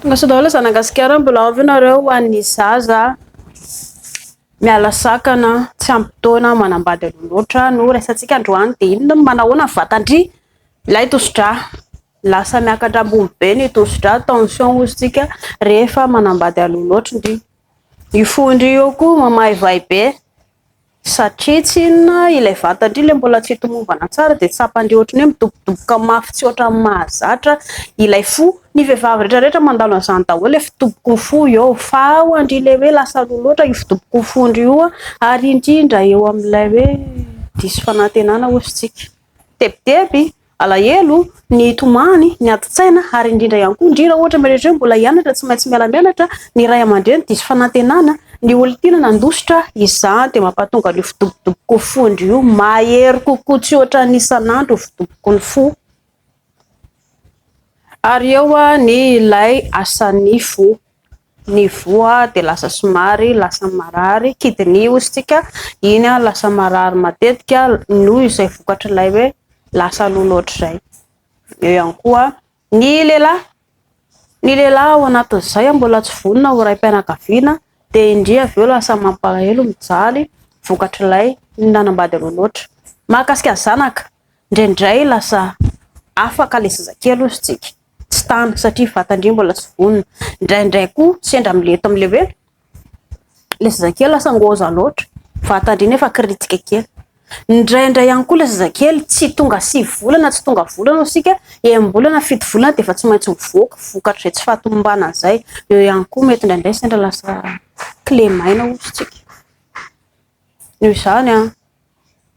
Tongasoa daholo zanagasikara mbola ao ve nareo ho an'ny zaza miala sakana tsy ampy taona manambady aloha loatra no resatsika androany dia inona no manahoana ny vatandry ilay tosidra lasa miakatra ambony be ny tosidra tension ozintsika rehefa manambady aloha loatra ndry io fo ndry io koa mamaivay be Satria tsy inona, ilay vatan-dry ilay mbola tsy tomombana tsara dia tsapan-dry ohatry ny hoe midobodoboka mafy tsy ohatran'ny mahazatra ilay fo. Ny vehivavy rehetra rehetra mandalo an'izany daholo ilay fidobok'o fo eo fa ho an-dry ilay hoe lasa roa loatra io fidobok'o fon-dry io ary indrindra eo amin'ilay hoe diso fanantenana hozy tsika. tebiteby, alahelo, ny tomany, ny adin-tsaina ary indrindra ihany koa ndry raha ohatra ianareo indray mbola hianatra tsy maintsy miala mianatra, ny ray aman-dreny diso fanantenana, ny olon-tiana nandositra, izany dia mampahatonga an'io fidobodoboky fo ndry io mahery kokoa tsy ohatra ny isan'andro io fidoboky ny fo. Ary eo ny ilay asan'ny fo. ny voa dia lasa somary lasa marary, kidney hozy tsika, iny lasa marary matetika noho izay vokatr'ilay hoe lasa loha loatr'izay, eo ihany koa ny lehilahy, ny lehilahy ao anatin'izay mbola tsy vonona ho raim-pianakaviana dia indreo avy eo lasa mampalahelo, mijaly vokatr'ilay nanambady loha loatra, mahakasika zanaka, indraindray lasa afaka lezazakely hozy tsika. tsy tana satria vatan-dry mbola tsy vonona. Indraindray koa sendra amin'ilay eto amin'ilay hoe ilay zazakely lasa ngôza loatra, vatan-dry nefa kiritika kely. Indraindray ihany koa ilay zazakely tsy tonga sivy volana, tsy tonga volana isika, enim-bolana, fito volana dia efa tsy maintsy mivoaka vokatr'izay tsy fahatomombanana izay. Eo ihany koa mety indraindray sendra lasa kilemaina hoy isika. Noho izany an!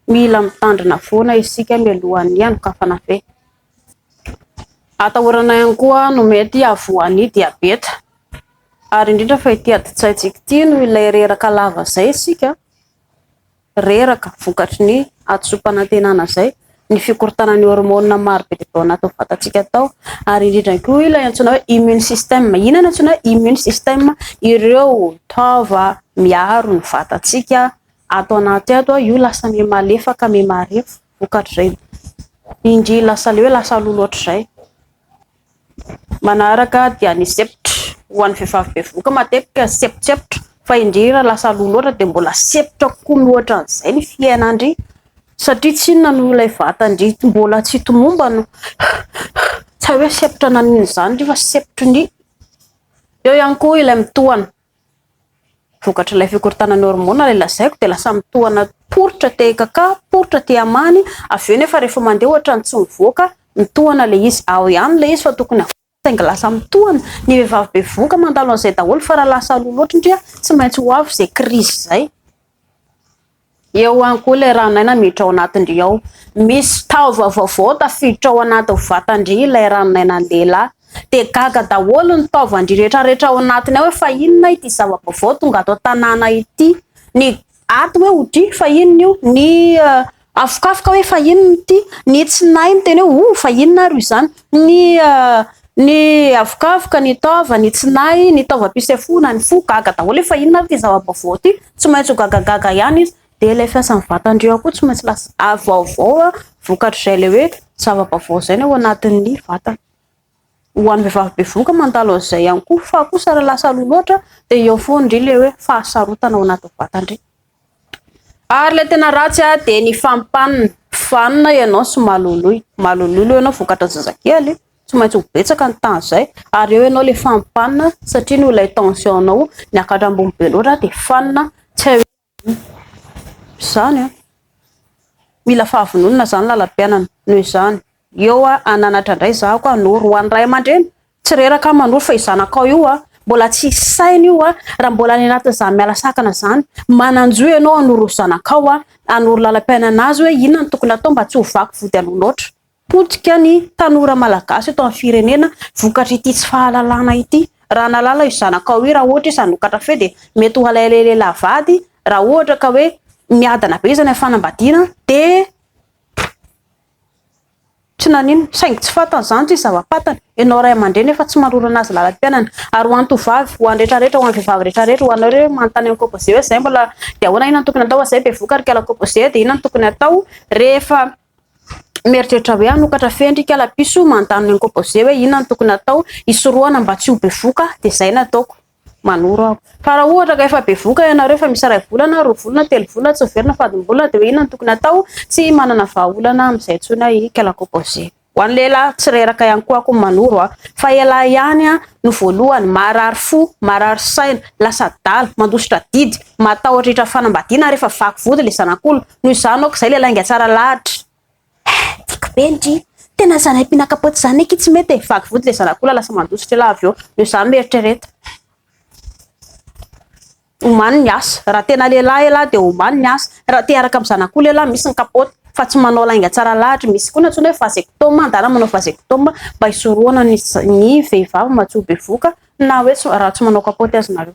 Mila mitandrina foana isika mialohan'ny hanokafana ve? Atahorana ihany koa no mety havoan'ny diabeta. Ary indrindra fa ity adin-tsaintsika ity no ilay reraka lava izay isika, reraka vokatry ny hadisoam-panantenana izay, ny fikorontanana ny hormonina maro be dia be ao anatin'ny vatantsika tao. Ary indrindra koa ilay antsoina hoe immune system. Inona no antsoina hoe immune system? Ireo taova miaro ny vatantsika Ato anaty ato a, io lasa miha malefaka, miha marefo vokatr'izay. Indry lasa leo, lasa lolo ohatr'izay. Manaraka dia ny sepitra. Ho an'ny vehivavy bevoka matetika sepitsepitra, fa indry raha lasa lolo loatra dia mbola sepitra kokoa mihoatra an'izay ny fiainandry, satria tsy inona noho ilay vatandry mbola tsy tomombana. Tsy hay hoe sepitra nanin'izany indry fa sepitry ny. Eo ihany koa ilay mitohana. Vokatr'ilay fikorontanan'ny hormona ilay lazaiko dia lasa mitohana poritra aty akaka, poritra aty amany, avy eo nefa rehefa mandeha ohatrany tsy mivoaka, mitohana ilay izy. Ao ihany ilay izy fa tokony havoaka saingy lasa mitohana. Ny vehivavy bevohoka mandalo an'izay daholo fa raha lasa aloha loatra ndry tsy maintsy ho avy izay crise izay. Eo ihany koa ilay ranon'aina miditra ao anatin-dry ao. Misy taova vaovao tafiditra ao anatin'ny vatan-dry ilay ranon'ainan'ny lehilahy. Dia gaga daholo ny taovan-dry rehetrarehetra ao anatiny ao hoe fa inona ity zava-baovao tonga ato an-tanàna ity. Ny aty hoe ho dry fa inona io, ny afokafoka hoe fa inona ity, ny tsinay miteny hoe oh fa inona ary io izany, ny Ny havokavoka, ny taova, ny tsinay, ny taovam-pisefoana, ny fo, gaga daholo efa inona ary ity zava-baovao ity, tsy maintsy ho gagagaga ihany izy, dia ilay fiasan'ny vatandry ao koa tsy maintsy lasa ary vaovao vokatr'izay ilay hoe zava-baovao izay ny ao anatin'ny vatany. Ho an'ny vehivavy bevohoka mandalo an'izay ihany koa fa kosa raha lasa aloha loatra dia eo foana indry ilay hoe fahasarotana ao anatin'ny vatandry. Ary ilay tena ratsy ah dia ny fampanina. Mpifanina ianao sy maloloy. Maloloy aloha ianao vokatra zazakely. Tsy maintsy ho betsaka ny temps izay. Ary eo ianao ilay fampanina satria noho ilay tension-nao niakatra ambony be loatra dia fanina. Tsy hay hoe ahoana. Izany an. Mila fahavononana izany lalam-piainana. Noho izany. Eo a, hananatra indray izaho ka hanoro ho an'ny ray aman-dreny. Tsy reraka aho manoro fa io zanakao io a, mbola tsy hisy saina io a, raha mbola any anatin'izany miala sakana izany. Manan-jo ianao hanoro zanakao a, hanoro lalam-piainana azy hoe inona no tokony hatao mba tsy ho vaky vody aloha loatra. Potika ny tanora malagasy eto amin'ny firenena vokatr'ity tsy fahalalana ity. Raha nahalala io zanakao io, raha ohatra izy hanokatra feo dia mety ho alaialay ilay lehilahy vady, raha ohatra ka hoe miadana be izy any amin'ny fanambadiana dia. Tsy naninona, saingy tsy fantany izany tsy zava-patany. Ianao ray aman-dreny efa tsy manoloana azy lalam-piainana. Ary ho an'ny tovovavy, ho an'ny rehetra rehetra, ho an'ny vehivavy rehetra rehetra, ho anao ireo hoe manontany an'i Kôbôzia hoe izay mbola dia ahoana, inona no tokony atao, izay bevoka ry kala Kôbôzia dia inona no tokony atao rehefa mieritreritra hoe hanokatra fehiny ry kala piso manontany an'i Kôbôzia hoe inona no tokony atao hisorohana mba tsy ho bevoka dia izay no ataoko. manoro aho. Fa raha ohatra ka efa bevoka ianareo fa misy iray volana, roa volana, telo volana tsy miverina fadim-bola dia hoe inona no tokony hatao? Tsy manana vahaolana amin'izay intsony aho i Kalakopoze. Ho an'ny lehilahy tsy reraka ihany koa aho manoro aho. Fa ialahy ihany no voalohany marary fo, marary saina, lasa adala, mandositra didy, matahotra hiitra fanambadiana ary efa vaky vody ilay zanak'olona. Noho izany aoka izay ilay lainga tsara lahatra. Tiako be ndry! Tena zalahy mpinaka-potsy izany akia tsy mety e! Vaky vody ilay zanak'olona lasa mandositra ela avy eo. Noho izany mieritrereta. Omany ny asa. Raha tena lehilahy ela dia omany ny asa. Raha te hiaraka amin'ny zanak'olona ela misy ny kapoaka fa tsy manao lainga tsara lahatra. Misy koa ny antsoina hoe vasectome. Andeha manao vasectome mba hisorohana ny ny vehivavy matoa bevohoka na hoe raha tsy manao kapoaka aza nareo.